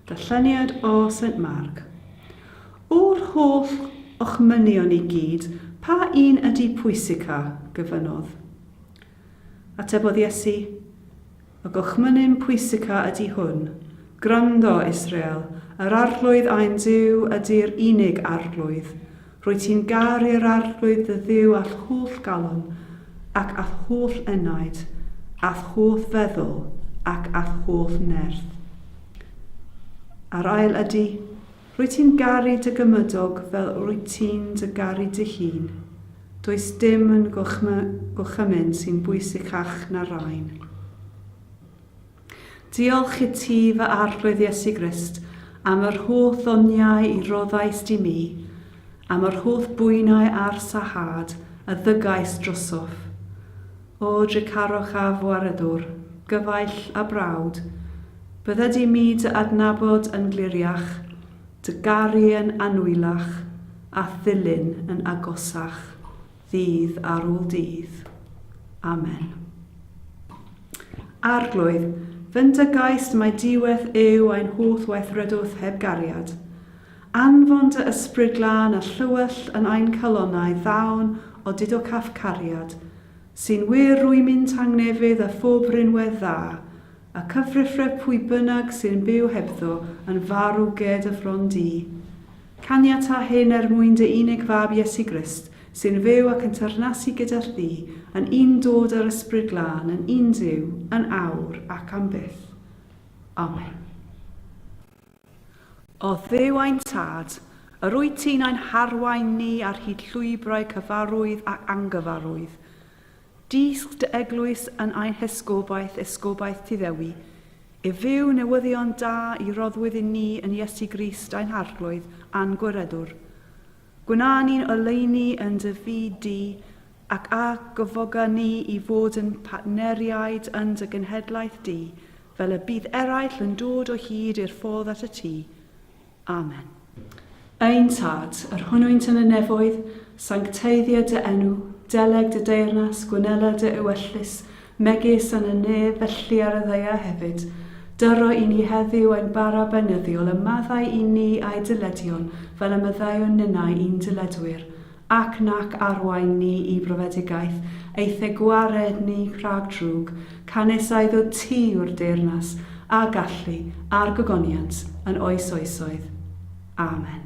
Darlleniad o Saint Mark. O'r holl ochmynion i gyd, pa un ydy pwysica? gyfynodd. Atebodd Iesu, Y gochmynin pwysica ydy hwn, Gwrando, Israel, yr Arglwydd ein Duw ydy'r unig Arglwydd. Rwyt ti'n garu'r Arglwydd dy Dduw a'th holl galon, ac a'th holl enaid, a'th holl feddwl, ac a'th holl nerth. A'r ail ydy, Rwyt ti'n garu dy gymydog fel rwyt ti'n dy garu dy hun. Does dim yn gorchymyn sy'n bwysicach na'r rain. Diolch i ti, fy Arglwydd Iesu Grist, am yr holl ddoniau y rhoddaist i mi, am yr holl bwynau a'r sahâd y ddygais drosof. O dricarwch a fwaredwr, gyfaill a brawd, bydde di mi dy adnabod yn gliriach, dy garu yn annwyllach, a'th ddilyn yn agosach, ddydd ar ôl dydd. Amen. Arglwydd, fyn dy gais mai diweth yw ein holl weithredwth heb gariad. Anfon dy Ysbryd Glân a Llywyll yn ein calonnau ddawn o dudocaf cariad, sy'n wir rwymyn tangnefydd a phob rhinwedd dda, a cyfrifre pwy bynnag sy'n byw hebddo yn farw ged y fron du. Caniata hyn er mwyn dy unig Fab Iesu Grist, sy'n fyw ac yn teyrnasu gyda thi yn un dod â'r Ysbryd Glân yn un Duw, yn awr ac am byth. Amen. O Dduw ein Tad, yr wyt ti'n ein harwain ni ar hyd llwybrau cyfarwydd ac angyfarwydd. Dysg dy eglwys yn ein hesgobaeth, esgobaeth ti Ddewi, i fyw newyddion da i roddwyd i ni yn Iesu Grist ein Harglwydd a'n Gwiredwr. Gwna ni'n oleuni yn dy fyd di, ac a gyfoga ni i fod yn partneriaid yn dy genhedlaeth di, Fel y bydd eraill yn dod o hyd i'r ffordd at y tŷ. Amen. Ein Tad, yr hwnnwynt yn y nefoedd, sancteiddio dy enw, deleg dy deyrnas, gwnela dy ewyllys, megis yn y nef, felly ar y ddaear hefyd. Dyro i ni heddiw ein bara beunyddiol, a maddau i ni a'i dyledion, fel y maddeuwn ninnau i'n dyledwyr. ac nac arwain ni i brofedigaeth, eithe gwared ni rhag drwg, canys a iddo ti yw'r deyrnas, a gallu, a'r gogoniant, yn oes oesoedd. Amen.